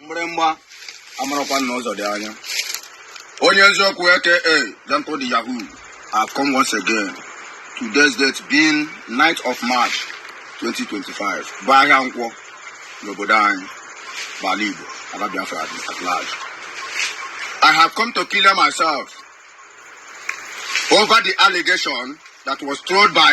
mgbịrịmgba amarakwa na ụzọ dị anya onye eziokwu aka Gentle the Yahoo I have come once again today's date being 9th of March 2025 bụ ahịa nkwọ n'obodo anyị bụ ala Igbo ala Biafra at large I have come to clear myself over the allegation that was thrown by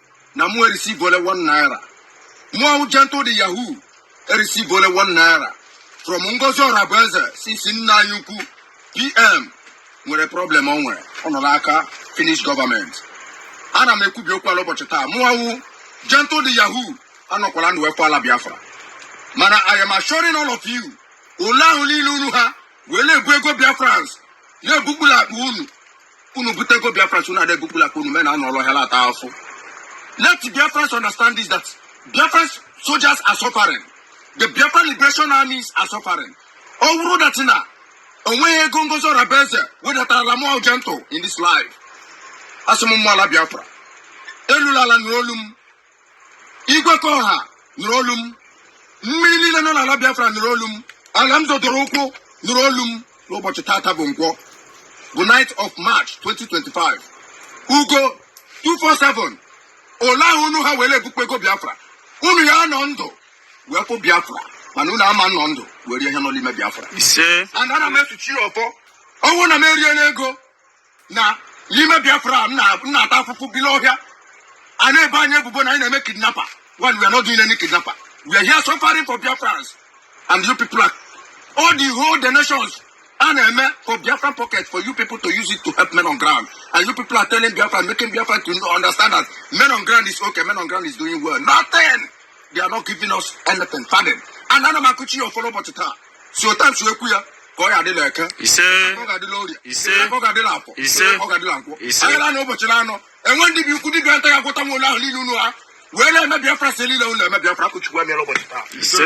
na mụ receive only one naira mụ wụ gentle the yahoo receive only one naira from ngozi orabueze since nna anyị ukwu pm nwere problem ọ nwere ọ nọ n'aka finnish gọọmenti ana m ekwubi okwu a la ụbọchị taa mụwa wụ gentle the yahoo anọkwala ndụ wee hụ ala biafra mana i am assuring all of you ole ahụ niile unu ha wee na-ebu ego biafrans na-ebukpu la akpa unu unu bute ego biafrans unu ada ebukpu la akpa unu men anọrọ n'ọhịa na-ata afụfụ let biafrans understand this that biafrans soldiers are suffering the biafra liberation armies are suffering ọ wụrụ that na o nweghị ego ngozi orabueze wedatarala mụ gentle in this life asị m mmụọ ala biafra elu la ala nụrụ olu m igwe ka ọha nụrụ olu m mmiri niile nọ n'ala biafra nụrụ olu m ala m zọdoro ụkwụ nụrụ olu m n'ụbọchị tata bụ nkwọ bụ 9th of march 2025 ugo 247 ole ahụ unu ha wee na-ebukpu ego biafra unu ya-anọ ndụ wee hụ biafra mana unu ama anọ ndụ wee rie ihe nọ n'ime biafra and ana m esuchi ọfọ ọ wụ na m eriela ego na n'ime biafra m na-ata afụfụ bi n'ọhịa a na-ebo anyị ebubo na anyị na-eme kidnapper when we are not doing any kidnapper we are here suffering for biafrans and you people are all the whole donations a na-eme for biafra pocket for you people to use it to help men on ground and you people are telling biafra making biafra to understand that men on ground is okay men on ground is doing well nothing they are not giving us anything farthing and ana m akụchi ya ọfọ la ụbọchị taa sị otu a m si ekwu ya ka ọ ya-adị la eke ise ọ ga-adị la orie Ise. ọ ga-adị la afọ Ise. ọ ga-adị la nkwọ Ise. ahịa na anọ ụbọchị na anọ enwe dibịa ukwu dibịa nta ya-agwọtanwu ole ahụ niile unu ha wee na-eme biafrans ihe niile unu na-eme biafra akụchukwu emela ụbọchị taa ise